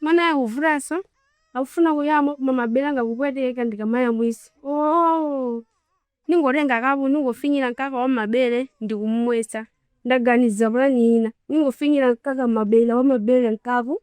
mwana akuvutanso akufuna kuyamwa koma mabere anga kupweteka ndikamayamwisa ningotenga kapu ningofinyira mkaka wa m'mabere ndikumumwesa ndaganiza pulani ina ningofinyira mkaka mabere wa m'mabere mkapu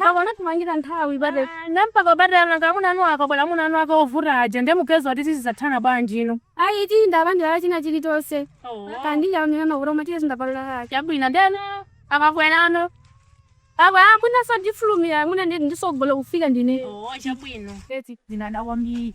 akonda timamwera nthawi bade nampaka bade ananga amuna anu akabwera amuna anu akawavuta aja ndiye mukadzati tidzathana bwanji ino ayi timwa abanja la china chilichonse kandija amene makuroma tiye zindapalala ake chabwino ndeno akabwerano akwe amuna sadifulumira amuna ndisogolo kufika ndine chabwino eti ndinada kwambiri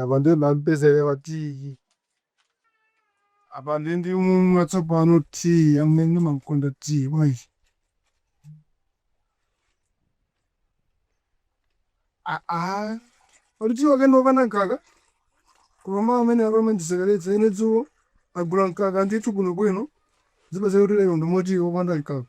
Apa ndiye ndamupezerera tiyi. Apa ndiye ndimumwa tsopano tiyi amene ndimakonda tiyi bwanji. Aa, kodi tiyi wake ndi wopanda mkaka? Koma mawu amene amene andisekeretse ine dzulo agula mkaka ndithu bwinobwino zikupezeka kuti lero ndimwe tiyi wopanda mkaka.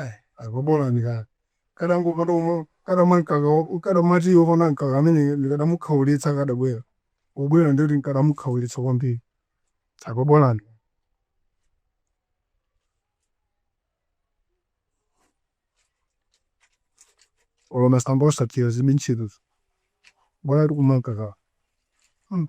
Ai apa bolani kaya ndikadangopanda kumwa ndikadamwa mkaka ndikadati waona mkaka ameneyo ndikadamukhaulitsa akadabwera pobwera ndiye kuti ndikadamukhaulitsa kwambiri apa bolani. Olo masamba osaphika zilibe ntchito bolatu ndikumwa mkakawo mm.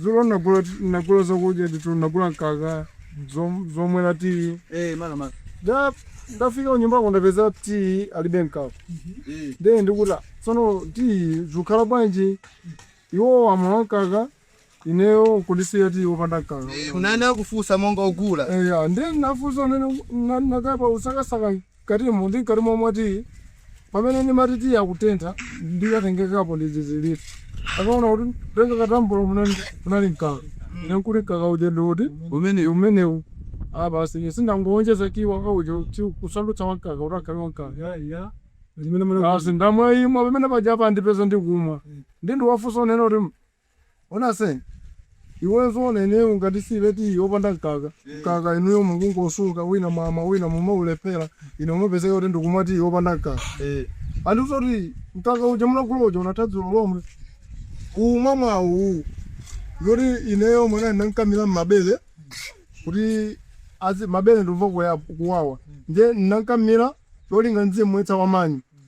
Dzulo nagula nagula zakudya ndithu nagula mkaka zom- zomwera tiyi Eh, mara mara. nde ndafika kunyumba kukapeza tiyi alibe mkaka Eh. nde ndikuti tsono tiyi zikukhala bwanji iwo wamwa mkaka ineyo kundisiya tiyi wopanda mkaka Munakafusa monga ogula. eya nde nafusa nde ndakhala ndikusakasaka Mkatimu ndi mkati mokumwa tiyi, pamene ndimati tiyi akutentha ndinatenga kapu ndi zizindikiro. Ndikaona kuti kutenga kathambula munali munali mkaka. Ine nkuti mkaka uja ndi uti? Umenewu. Umenewu. Ah, basi ine si ndangowonjeza tiyi wanga uja kuti kusandutsa wa mkaka kuti akhale wa mkaka. Eya, eya. Ndimene muli. Basi ndamwa imwa pamene paja apa andipeza ndikumwa. Nde ndiwafunsa kunena kuti Ona sen iweyo zoona ineyo ngati tisiye tiyi wopanda mkaka mkaka inuyo mukungosunga wina mwamwa wina mumaulephera ine kumapezeka kuti ndikumwa tiyi wopanda mkaka ee andiuza kuti mkaka uja munagula uja unatha dzulo lomwe uwu mwamwawu uwu ndi oti ineyo mwana ndinamkamila mmabele kuti azi mabele ndikumva kuya- kuwawa nde ndinamkamila cholinga nzimwetsa wamanyi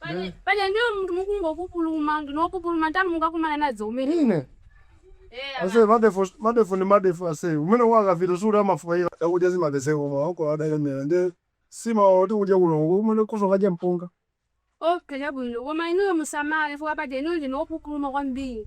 Paja- paja ndinu munthu wongopupuluma ndinu opupuluma ntanu mukakumana nazo umene ine Eh, ama- ase madefu madefu ni madefu ase umene wakavira suli amafukaira chakudya zimapezeka koma wako adalemera ndi nsima oti kudya kulongo umene kusokadya mpunga okay chabwino koma inuyo musamale chifukwa paja inuyo ndinu opupuluma kwambiri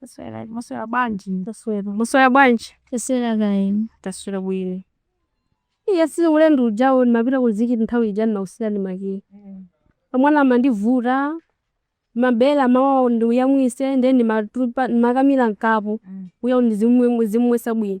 Taswera, mwaswera bwanji? Taswera. Mwaswera bwanji? Taswera kaya inu? Taswera bwino. Iya si ulendo uja ndimapita ku Zikiti nthawi ija ndinakusiyirani makiyi. Mwana amandivuta, mabere amawawa ndimuyamwitse ndiye ndimatupa ndimakamira m'kapu kuti ndizimumwetsa bwino.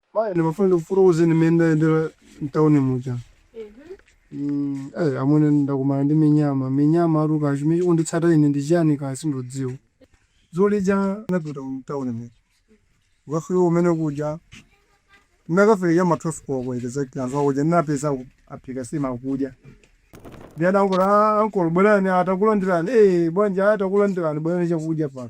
Mayi ndimafuna ndikufotokozeni mmene ndayendera mtauni muja mm, eh, amwene ndakumana ndi minyama minyama atu kaya chimene chikunditsata ine ndi chiyani kaya sindidziwa dzulo lija ndinapita mtauni muja kukafika kumene kuja ndinakafika cha ma 12 koloko exactly anthu akuja ndinapeza aphika nsima akudya ndi adangoti ankolo bwerani atakulandirani eh bwanji atakulandirani bwerani chakudya pano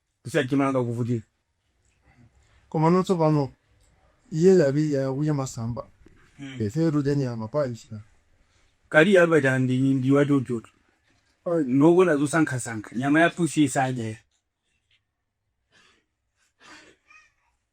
Kusiya chimanga kuvutika. Komano tsopano iye ali akudya masamba. Ife tikudya nyama ya pusi. Kali Albert and ndi wa chonchotu. Ndi wokonda zosankhasankha. Nyama ya pusi iye sadya.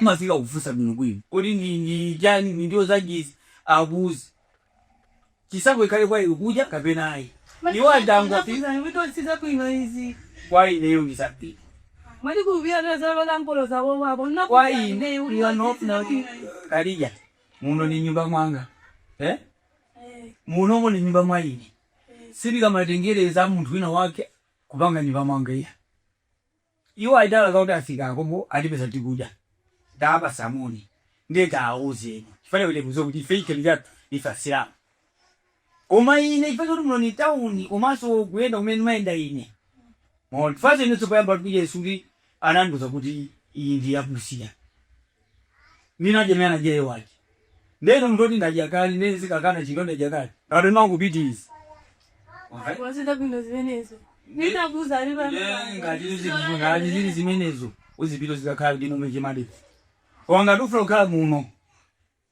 Umafika kufunsa bwino bwino kodi ndi ndi chani ndi ndiwo zanji izi akuuze chisankho chikhale kwa iwe kudya kapena ayi iwo adangoti kwa ineyo ndi zambiri kwa ine you are not not kalija muno ndi m'nyumba mwanga eh munomo ndi m'nyumba mwa ine sindikamatengereza munthu wina wake kupanga m'nyumba mwanga iya Iwo atero kuti afika pompo atipeza tikudya tawapatsa moni ndiye tawauzeni chifukwa chake akudziwa kuti ife chikhalidwe chathu ife asilamu koma ine chifukwa choti muno ni town komanso kuyenda kumene ndimayenda ine mwaona chifukwa inenso poyamba kudya sikuti anandiuza kuti iyi ndi ya pusi ninadya naye anadya ye wake nde ine munthu woti ndadya kale nde nzikakana chinthu ndadya kale ato ndimangopitiriza Alright? wachita bwino zimenezo ndinakuuza ali pa Yeah, ngati izi zinthu- ngati zili zimenezo uzipita uzikakhala kuti mumeche madeti koma ngati ufuna kukhala muno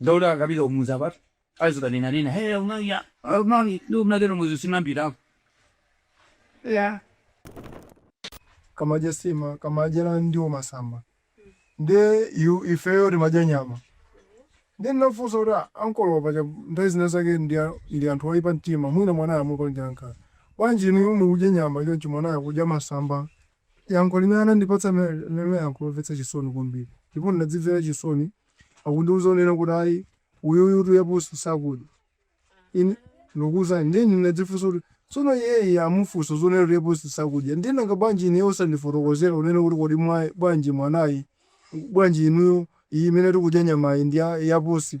Dawuda akapita kumudzi apatu azikanenanena, hey amai ya amai ndio mnatero mwezi sinambirako ya kamadya nsima kamadya na ndiwo masamba ndiye ifeyo timadya nyama ndiye ndinafunsa kuti "Ah, ankolo paja nthawi zina zake ndi a- ndi anthu oipa mtima mwina mwanayo amupangira nkhanza bwanji inuyo mukudya nyama choncho mwanayo akudya masamba Yankho limene anandipatsa linali yankho lomvetsa chisoni kwambiri ndipo ndinadzimvera chisoni atandiuza kunena kuti ayi uyuyutu ya pusi sakudya. Ine ndikukuuzani ndiye ine ndinadzifunsa kuti tsono iyeyi amufunsa zonena kuti ya pusi sakudya ndiye nanga bwanji ineyo osandifotokozera kunena kuti kodi mwa, bwanji mwanayi, bwanji inuyo iyi imene tikudya nyamayi ndi ya, ya pusi?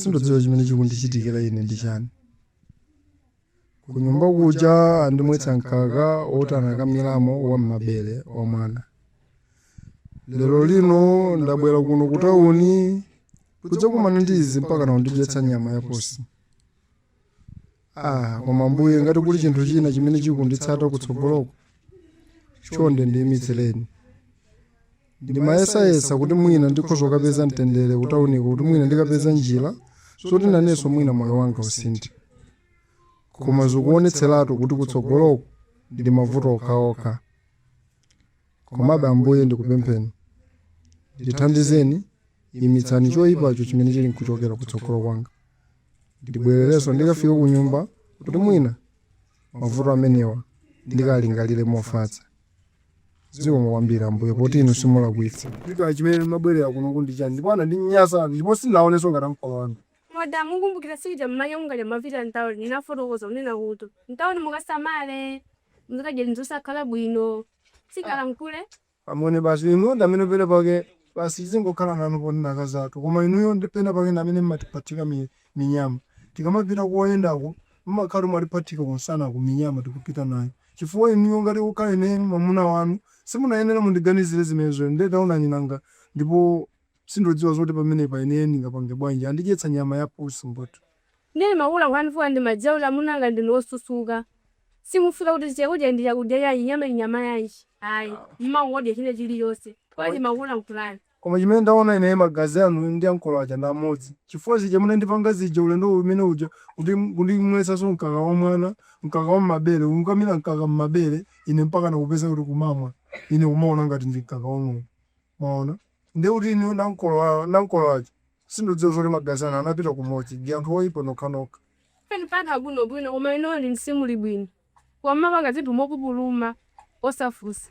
sindikudziwa chimene chikundichitikira ine ndi chani kunyumba kuja andimwetsa mkaka oti anakamiramo wa m'mabere amwana lero lino ndabwera kuno kutawuni kudzakumana ndi izi mpaka kundidyetsa nyama ya pusi ah koma ambuye ngati kuli chinthu china chimene chikunditsata kutsogoloko chonde ndiyimitsireni ndimayesayesa kuti mwina ndikhoza kukapeza mtendere kutauniko kuti mwina ndikapeza njira zoti nanenso mwina moyo wanga usinthe koma zikuonetseratu kuti kutsogoloku ndi mavuto okhaokha komabe ambuye ndikupempheni ndithandizeni imitsani choyipacho chimene chili nkuchokera kutsogolo kwanga ndibwererenso ndikafike ku nyumba kuti mwina mavuto amenewa ndikalingalire mofatsa zikomo kwambiri ambuye poti inu simulakwitsa chifukwa chimene munabwerera kuno kundicha ndipo anandinyasa ndipo sinaonenso ngati ankolo wanu Mada mukumbukira sikuja mmanya mungaja mumapita mtauni ndinafotokoza kunena kuti mtauni mukasamale muzakadya zinthu zosakhala bwino sikalankhule amwene basi inu ndi amene pena pake basi zingokhala nanu ponena akazi athu koma inuyo ndi pena pake ndi amene mmatiphathika mi- minyama. Tikamapita koyendako mumakhala mwatiphathika kunsana ku minyama kupita nayo chifukwa inuyo ngati kukhala ineyo mwamuna wanu simunayenera kundiganizira zimenezoyo nde taonani nanga ndipo sindodziwa zoti pamenepa ineyo ndingapange bwanji andidyetsa nyama ya pusi mbut. Nde ndimakulankhulani chifukwa ndimadziwa kuti amuna anga ndinu osusuka simufunsa kuti chakudya ndi chakudya yanji nyama ndi nyama yanji ayi mumangodya china chilichonse nde ndimakulankhulani. Koma chimene ndaona ine magazi anu ndi ankolo aja ndi amodzi, chifukwa zija munandipanga zija ulendo umene uja kuti kundimwetsanso mkaka wa mwana, mkaka wa m'mabere, kundikamira mkaka m'mabere ine mpakana kupeza kuti kumamwa ine kumaona ngati ndi mkaka wa ng'ombe. Mwaona? Ndiye kuti inuyo ndi ankolo a, ndi ankolo aja sindikudziwa zoti magazi anu anapita kumodzi ndi anthu oipa nokhanokha. Inu anthu abwinobwino koma inuyo ndi simuli bwino koma mumapanga zinthu mopupuluma osafunsa.